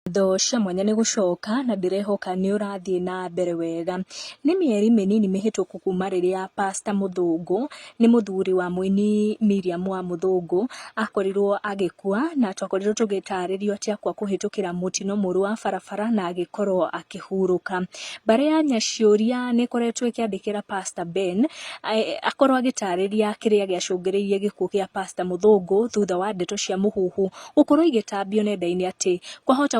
Ngatho cia mwanya nĩ gũcoka na ndĩrehoka nĩ ũrathiĩ na mbere wega. Nĩ mĩeri mĩnini mĩhĩtũku kuma rĩrĩa pastor Mũthũngũ, nĩ mũthuri wa mũini Miriam wa Mũthũngũ, akorirwo agĩkua na twakorirwo tũgĩtarĩrio atĩ akua kũhĩtũkĩra mũtino mũru wa barabara na agĩkorwo akĩhurũka. Mbarĩ ya Nyaciũria nĩ ĩkoretwo ĩkĩandĩkĩra pastor Ben, akorwo agĩtarĩria kĩrĩa gĩacũngĩrĩirie gĩkuũ gĩa pastor Mũthũngũ thutha wa ndeto cia mũhuhu. Gũkorwo igĩtambio nenda-inĩ atĩ kwahota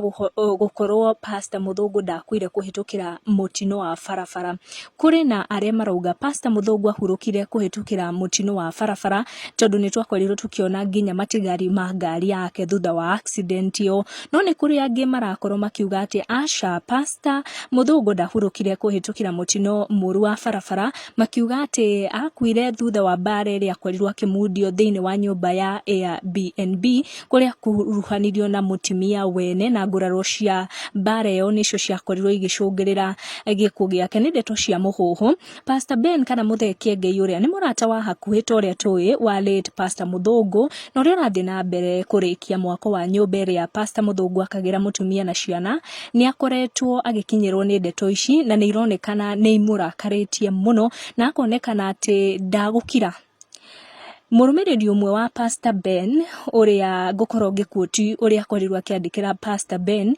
gũkorwo pastor Mũthũngũ ndakuire kũhĩtũkĩra mũtino wa barabara. Kũrĩ na arĩa marauga pastor Mũthũngũ ahurũkire kũhĩtũkĩra mũtino wa barabara tondũ nĩ twakorirwo tũkĩona nginya matigari ma ngari yake thutha wa accident ĩyo. No nĩ kũrĩ angĩ marakorwo makiuga atĩ aca pastor Mũthũngũ ndahurũkire kũhĩtũkĩra mũtino mũru wa barabara. makiuga atĩ akuire thutha wa mbaara ĩrĩa akorirwo akĩmundio thĩinĩ wa nyũmba ya Airbnb kũrĩa akuruhanirio na mũtumia wene na nguraro cia mbaara ĩyo nĩcio ciakorirwo igĩcũngĩrĩra gĩkuũ gĩake nĩ ndeto cia mũhuhu Pastor Ben kana Mũthee Kĩengei ũrĩa nĩ mũrata wa hakuhĩ ta ũrĩa tũĩ wa late Pastor Mũthũngũ na ũrĩa ũrathiĩ na mbere kũrĩkia mwako wa nyũmba ĩrĩa Pastor Mũthũngũ akagĩra mũtumia na ciana nĩ akoretwo agĩkinyĩrwo nĩ ndeto ici na nĩ ironekana nĩ imũrakarĩtie mũno na akonekana atĩ ndagũkira. Mũrũmĩrĩri ũmwe wa Pastor Ben ũrĩa ngũkorwo ngĩkuoti ũrĩa akorirwo akĩandĩkĩra Pastor Ben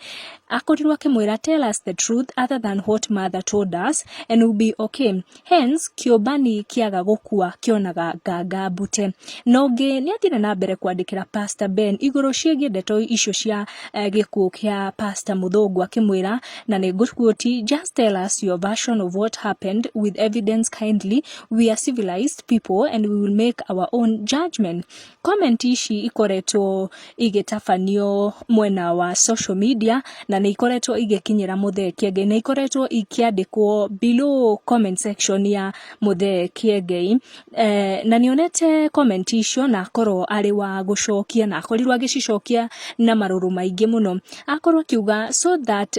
akorirwo akĩmwĩra tell us the truth other than what mother told us and we'll be okay. Hence, kĩũmbani kĩaga gũkua kĩonaga nganga mbute. Na ũngĩ nĩ athire na mbere kwandĩkĩra Pastor Ben igũrũ ciĩgiĩ ndeto icio cia eh, gĩkuũ kĩa Pastor Mũthũngũ akĩmwĩra na nĩ ngũkuoti just tell us your version of what happened with evidence kindly we are civilized people and we will make our own judgment Comment ici ikoretwo igĩtabanio mwena wa social media na nĩ ikoretwo igĩkinyĩra Mũthee Kiengei. Nĩ ikoretwo ikĩandĩkwo below comment section ya Mũthee Kiengei. Na nĩ onete comment icio na akorwo arĩ wa gũcokia na akorirwo agĩcicokia na marũrũ maingĩ mũno. Akorwo akiuga so that